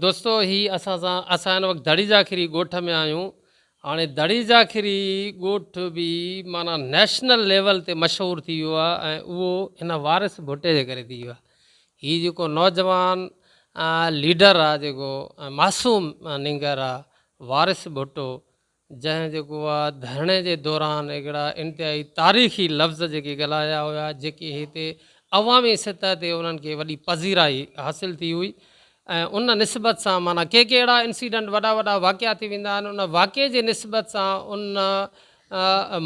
دوستو هي اسان سان اسان هن وقت دڙي ذاخري ڳوٺ ۾ آهيون هاڻي دڙي ذاخري ڳوٺ به معنيٰ نيشنل ليول تي مشهور ٿي ويو آهي ۽ اهو هن وارث ڀٽي جي ڪري ٿي ويو آهي هي جيڪو نوجوان ليڊر آهي جيڪو معصوم نينگر آهي وارث ڀٽو جنهن جيڪو آ ڌرڻي جي دوران هڪڙا انتهائي تاريخي لفظ جيڪي ڳالهايا هيا جيڪي هتي عوامي سطح تي انهن کي وڏي پذيرائي حاصل ٿي هئي ۽ ان نسبت سان معنيٰ ڪي ڪي اهڙا انسيڊنٽ وڏا وڏا واقعا ٿي ويندا آهن ان واقعي جي نسبت سان ان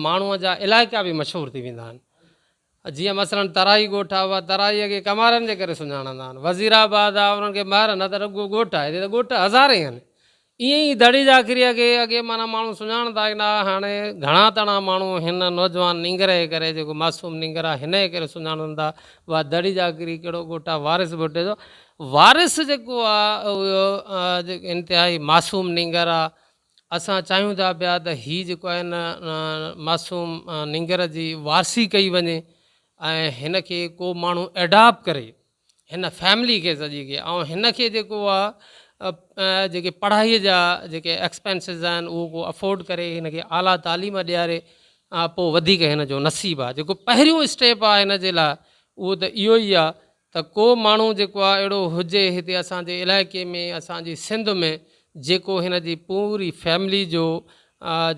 ماڻهو جا علائقا به مشهور ٿي ويندا آهن جيئن مثلاً ترائي ڳوٺ آ، اها ترائيء کي ڪمارن جي ڪري سڃاڻندا آهن. وزير آباد آ، انهن کي مهر نه ته رڳو ڳوٺ آهي، هتي ته ڳوٺ هزارين آهن. ائين ئي دڙي جاکريء کي اڳي معنيٰ ماڻهو سڃاڻندا ئي نه ها، هاڻي گهڻا تڻا ماڻهو هن نوجوان نينگر جي ڪري، جيڪو معصوم نينگر آ، هن جي ڪري سڃاڻن ٿا. اها دڙي جاکري ڪهڙو ڳوٺ آ، وارث ڀٽي جو وارث جيڪو آ، اهو انتهائي معصوم نينگر آ. اسان چاهيون ٿا پيا ته هي جيڪو آهي نه معصوم نينگر جي وارثي ڪئي وڃي ۽ هن کي ڪو ماڻهو ايڊاپ ڪري هن فيملي کي سڄي کي ۽ هن کي جيڪو آهي جيڪي پڙهائي جا جيڪي ايڪسپينسز آهن اهو ڪو افورڊ ڪري هن کي اعليٰ تعليم ڏياري پوء وڌيڪ هن جو نصيب آهي جيڪو پهريون اسٽيپ آهي هن جي لاء اهو ته اهو ئي آهي ته ڪو ماڻهو جيڪو آ اهڙو هجي هتي اسان جي علائقي ۾ اسان جي سنڌ ۾ جيڪو هن جي پوري فيملي جو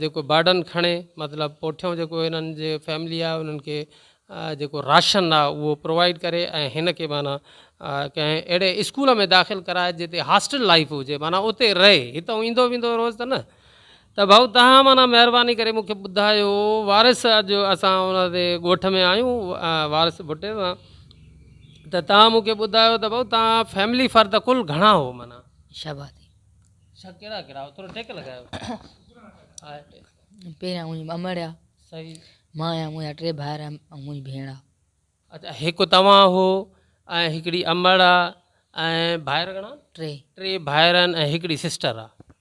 جيڪو برڊن کڻي مطلب پوٺيون جيڪو هنن جي فيملي آ انهن کي جيڪو راشن آ اهو پرووائيڊ ڪري ۽ هن کي معنيٰ ڪنهن اهڙي اسڪول ۾ داخل ڪرائي جتي هاسٽل لائيف هجي معنيٰ اتي رهي هتئون ايندو ويندو روز ته نه ته ڀائو تهان معنيٰ مهرباني ڪري مون کي ٻڌايو وارث اڄ اسان ان تي ڳوٺ ۾ آهيون وارث ڀٽي سان ته تهان مون کي ٻڌايو ته ڀائو تهان فيملي فرد ڪل گهڻا هو معنيٰ شهبادي شا ڪهڙا ڪهڙا هو ٿورو ٽيڪ لڳايو پهريان منهنجي امڙيا صحيح مان آهيان منهنجا ٽي ڀائر ۽ منهنجي ڀيڻ آ اچھا هڪ توهان هو ۽ هڪڙي امڙ آ ۽ ڀائر گهڻا ٽي ٽي ڀائر آهن ۽ هڪڙي سسٽر آ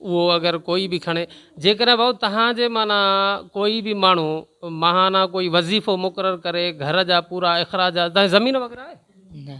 اهو اگر ڪوئي به کڻي. جيڪڏهن ڀائو توهان جي معنيٰ ڪوئي به ماڻهو ماهانه ڪوئي وظيفو مقرر ڪري گهر جا پورا اخراجات توهان جي زمين وغيره آهي؟ نه.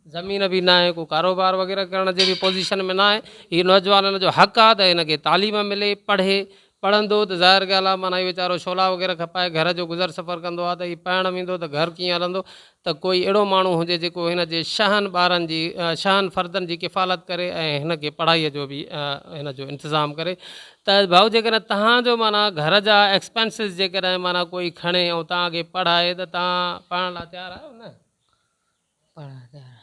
زمين به ناهي ڪو ڪاروبار وغيره ڪرڻ جي به پوزيشن ۾ ناهي هي نوجوانن جو حق آهي ته هن کي تعليم ملي پڙهي پڙهندو ته ظاهر ڳالهه آهي معنيٰ هي ويچارو شعلا وغيره کپائي گهر جو گذر سفر ڪندو آهي ته هي پهڻ ويندو ته گهر ڪيئن هلندو ته ڪوئي اهڙو ماڻهو هجي جيڪو هن جي شاهن ٻارن جي شاهن فردن جي ڪفالت ڪري ۽ هن کي پڙهائي جو به هن جو انتظام ڪري ته ڀائو جيڪڏهن توهان جو معنيٰ گهر جا ايڪسپينسز جيڪڏهن معنيٰ ڪوئي کڻي ۽ توهان کي پڙهائي ته توهان پڙهڻ لاء تيار آهيو نه پڙهڻ لاء تيار آهيو.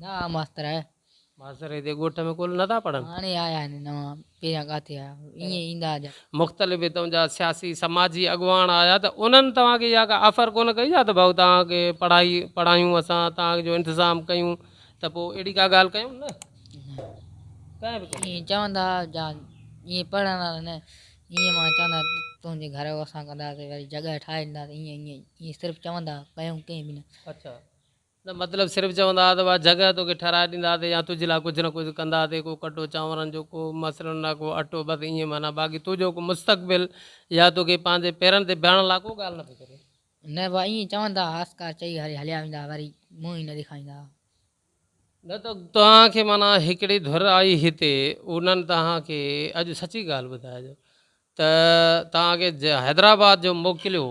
نه آ ماستر آهي. ماستر هتي ڳوٺ ۾ ڪول نٿا پڙهن. هاڻي آيا آهن نوان پهريان ڪاٿي آيا ايئن ايندا جا. مختلف هتون جا سياسي سماجي اڳواڻ آيا ته انهن توهان کي اها ڪا آفر ڪونه ڪئي ڇا ته ڀائو توهان کي پڙهائي پڙهايون اسان توهان جو انتظام ڪيون ته پوء اهڙي ڪا ڳالهه ڪيون نه ڪنهن به ڪونه ايئن چوندا جا ايئن پڙهڻ وارا نه ايئن مان چوندا تنهنجي گهر اسان ڪنداسي وري جڳهه ٺاهي ڏينداسي ايئن ايئن ايئن صرف چوندا ڪيون ڪنهن به نه. اڇا. نه مطلب صرف چوندا ھئا ته اھا جڳھه توکي ٺھرائي ڏيندا سي يا تنھنجي لاء ڪجھه نه ڪجھه ڪندا سي ڪو ڪٽو چانورن جو ڪو مصرن لاء ڪو اٽو بس ائين معنيٰ باقي تنھنجو ڪو مستقبل يا توکي پنھنجي پيرن تي بيھڻ لاء ڪو ڳالھه نه پئي ڪري. نه بس ائين چوندا ھئا اسڪار چئي ھري ھليا ويندا ھئا وري منھن ئي نه ڏيکاريندا ھئا. نه ته توھان کي معنيٰ ھڪڙي ڌر آئي ھتي انھن توھان کي اڄ سچي ڳالھه ٻڌائجو ته توھان کي حيدرآباد جو موڪليو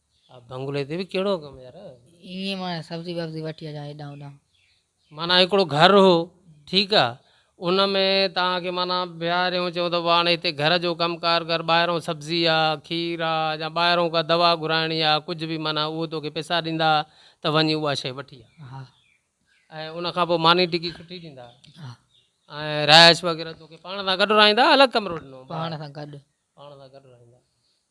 آ بنگلي تي به ڪهڙو ڪم يار. ايئن معنيٰ سبزي وبزي وٺي اچان هيڏانهن هوڏانهن. معنيٰ هڪڙو گهر هو ٺيڪ آ ان ۾ توهان کي معنيٰ بيهاريون چئون ته هاڻي هتي گهر جو ڪم ڪار ڪر ٻاهرئون سبزي آ کير آ يا ٻاهرئون ڪا دوا گهرائڻي آ ڪجهه به معنيٰ اهو توکي پئسا ڏيندا ته وڃي اها شيء وٺي آ ها ۽ ان کان پوء ماني ٽڪي سٺي ڏيندا ها ۽ رهائش وغيره توکي پاڻ سان گڏ رهائيندا الڳ ڪمرو ڏنو پاڻ سان گڏ پاڻ سان گڏ رهائيندا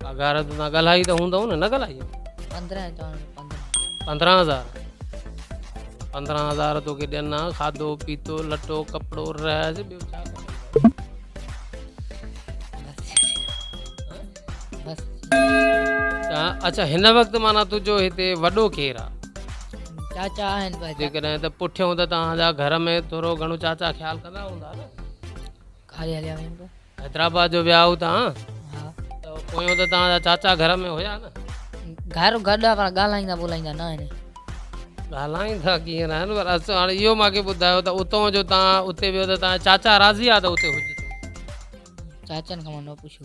پگهار تون ڳالهائي ته هوندو نه نه ڳالهائي 15000 15000 پندرهن هزار توکي ڏين ها کاڌو پيتو لٽو ڪپڙو رهج ٻيو ڇا اچھا هن وقت مانا تنهنجو هتي وڏو ڪير آ چاچا آهن جيڪڏهن ته پٺيون ته تنهنجا گهر ۾ ٿورو گهڻو چاچا خيال ڪندا هوندا نه ڪاري هليا ويم ته حيدرآباد جو ويا هو تان ها ته پويون ته تان چاچا گهر ۾ هيا نه گهر گڏ آ پر ڳالهائيندا ٻولهائيندا نه آهن ڳالهائيندا ڪيئن نه آهن پر اسو هاڻي اهو ماکي ٻڌايو ته اتو جو تان اتي ويو ته تان چاچا راضي آ ته اتي هجي چاچن کان منو پڇو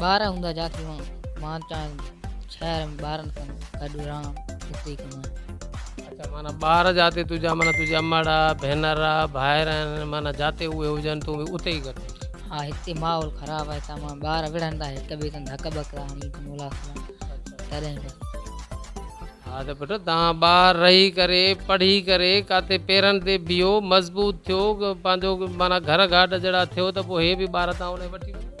ٻار هوندا جا ٿي هئا مان چاهيان شهر ۾ ٻارن سان گڏ رهان اتي ڪمائيان. اچا معنيٰ ٻار جاتي تنهنجا معنيٰ تنهنجي امڙ آ ڀينر آ ڀائر آهن معنيٰ جاتي اهي هجن تون به اتي ئي گڏ هجين. ها هتي ماحول خراب آهي هتان معنيٰ ٻار وڙهندا هڪ ٻئي سان ڌڪ ٻڪ ٿا هڻي اچن اولاد سان تڏهن ڪري. ها ته پٽ تان ٻاهر رهي ڪري پڙهي ڪري ڪاٿي پيرن تي بيهو مضبوط ٿيو پنهنجو معنيٰ گهر گهاٽ جهڙا ٿيو ته پوء هي به ٻار تان هوڏانهن وٺي وڃن.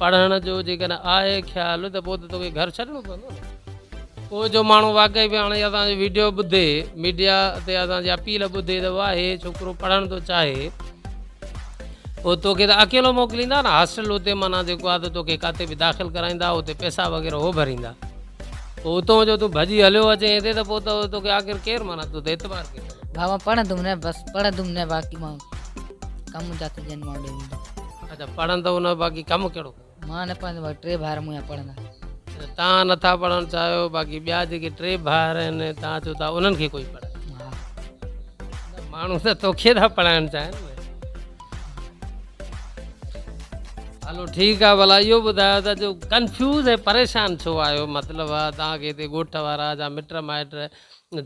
پڙهڻ جو جيڪڏهن آهي خيال ته پوء ته توکي گهر ڇڏڻو پوندو نه. پوء جو ماڻهو واقعي به هاڻي اسان جو ويڊيو ٻڌي، ميڊيا تي اسان جي اپيل ٻڌي ته واهه هي ڇوڪرو پڙهڻ ٿو چاهي، پوء توکي ته اڪيلو موڪليندا نه. هاسٽل اتي معنيٰ جيڪو آهي ته توکي ڪاتي به داخل ڪرائيندا، اتي پئسا وغيره هو ڀريندا. پوء اتون جو تون ڀڄي هليو اچين هتي ته پوء ته توکي آخر ڪير معنيٰ تو تي اعتبار ڪير ڪندو. بابا پڙهندم نه بس پڙهندم نه باقي مان ڪم جا ٿي ڄن مان ڏيندم. اچا پڙهندؤ نه باقي ڪم ڪهڙو ڪيو. مان نه پڙهندو باقي ٽي ڀائر مون جا پڙهندا. اچا توهان نه ٿا پڙهڻ چاهيو باقي ٻيا جيڪي ٽي ڀائر آهن توهان چئو ٿا انهن کي ڪوئي پڙهائي. ها. نه ماڻهو ته توکي ٿا پڙهائڻ چاهين نه. هلو ٺيڪ آهي ڀلا اهو ٻڌايو ته جو ڪنفيوز ۽ پريشان ڇو آهيو مطلب آهي توهان کي هتي ڳوٺ وارا جا مٽ مائٽ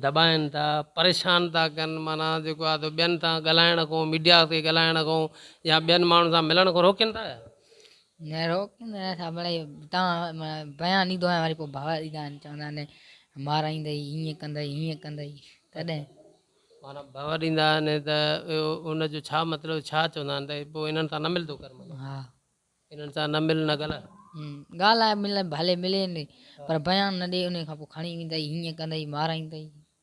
دٻائن ٿا پريشان ٿا ڪن معنيٰ جيڪو آهي ته ٻين سان ڳالهائڻ کان ميڊيا کي ڳالهائڻ کان يا ٻين ماڻهن سان ملڻ کان روڪين ٿا يا. نه روڪين ته نه ٿا پر اهي تان بيان ڏيندو آهيان وري پوء ڀاء ايندا آهن چوندا آهن مارائيندئي هيئن ڪندئي هيئن ڪندئي تڏهن. معنيٰ ڀاء ڏيندا آهن ته ان جو ڇا مطلب ڇا چوندا آهن ته پوء انهن سان نه ملندو ڪر معنيٰ ها انهن سان نه مل نه ڳالهاء. ڳالهاء ملي ڀلي ملين پر بيان نه ڏي انهي کان پوء کڻي ويندئي هيئن ڪندئي مارائيندئي.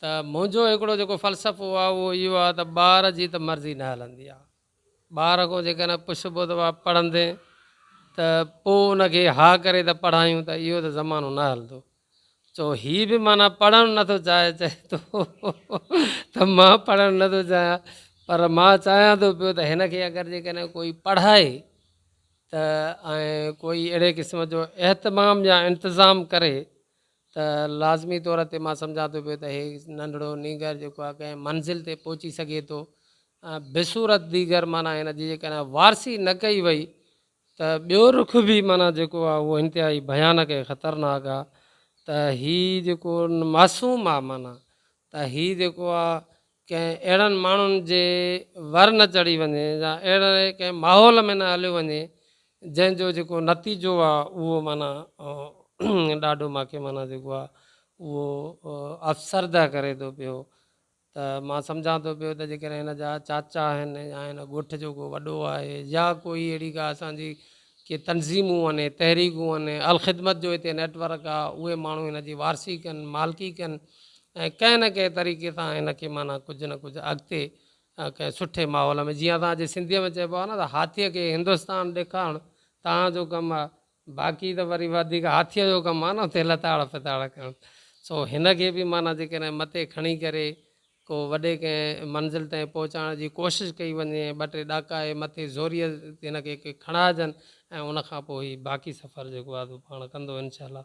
ته منهنجو هڪڙو جيڪو فلسفو آهي اهو اهو آهي ته ٻار جي ته مرضي نه هلندي آهي. ٻار کان جيڪڏهن پڇبو ته وا پڙهندين ته پوء ان کي ها ڪري ته پڙهايون ته اهو ته زمانو نه هلندو. چئو هي به معنيٰ پڙهڻ نه ٿو چاهي چئي ٿو ته مان پڙهڻ نه ٿو چاهيان پر مان چاهيان ٿو پيو ته هن کي اگر جيڪڏهن ڪوئي پڙهائي ته ۽ ڪوئي اهڙي قسم جو اهتمام يا انتظام ڪري ته لازمي طور تي مان سمجهان ٿو پيو ته هي ننڍڙو نينگر جيڪو آهي ڪنهن منزل تي پهچي سگهي ٿو. بصورت ديگر معنيٰ هن جي جيڪڏهن وارثي نه ڪئي وئي ته ٻيو رخ به معنيٰ جيڪو آهي اهو انتهائي ڀيانڪ ۽ خطرناڪ آهي ته هي جيڪو معصوم آهي معنيٰ ته هي جيڪو آهي ڪنهن اهڙن ماڻهن جي ور نه چڙهي وڃي يا اهڙي ڪنهن ماحول ۾ نه هليو وڃي جنهن جو جيڪو نتيجو آ اهو معنيٰ ڏاڍو ماکي معنيٰ جيڪو آ اهو افسرده ڪري ٿو پيو ته مان سمجهان ٿو پيو ته جيڪڏهن هن جا چاچا آهن يا هن ڳوٺ جو ڪو وڏو آهي يا ڪوئي اهڙي ڪا اسان جي ڪي تنظيمون آهن، تحريڪون آهن، الخدمت جو هتي نيٽ ورڪ آهي، اهي ماڻهو هن جي وارثي ڪن، مالڪي ڪن ۽ ڪنهن نه ڪنهن طريقي سان هن کي معنيٰ ڪجهه نه ڪجهه اڳتي ڪنهن سٺي ماحول ۾ جيئن اسان جي سنڌيء ۾ چئبو آهي نه ته هاٿيء کي هندستان ڏيکارڻ تان جو ڪم آهي، باقي ته وري وڌيڪ هاٿيء جو ڪم آهي نه اتي لتاڙ ڦتاڙ ڪرڻ، سو هن کي به معنيٰ جيڪڏهن مٿي کڻي ڪري ڪو وڏي ڪنهن منزل تائين پهچائڻ جي ڪوشش ڪئي وڃي ۽ ٻه ٽي ڏاڪا اهي مٿي زوريء هن کي ڪي کڻائجن ۽ ان کان پوء هي باقي سفر جيڪو آهي سو پاڻ ڪندو انشاء الله.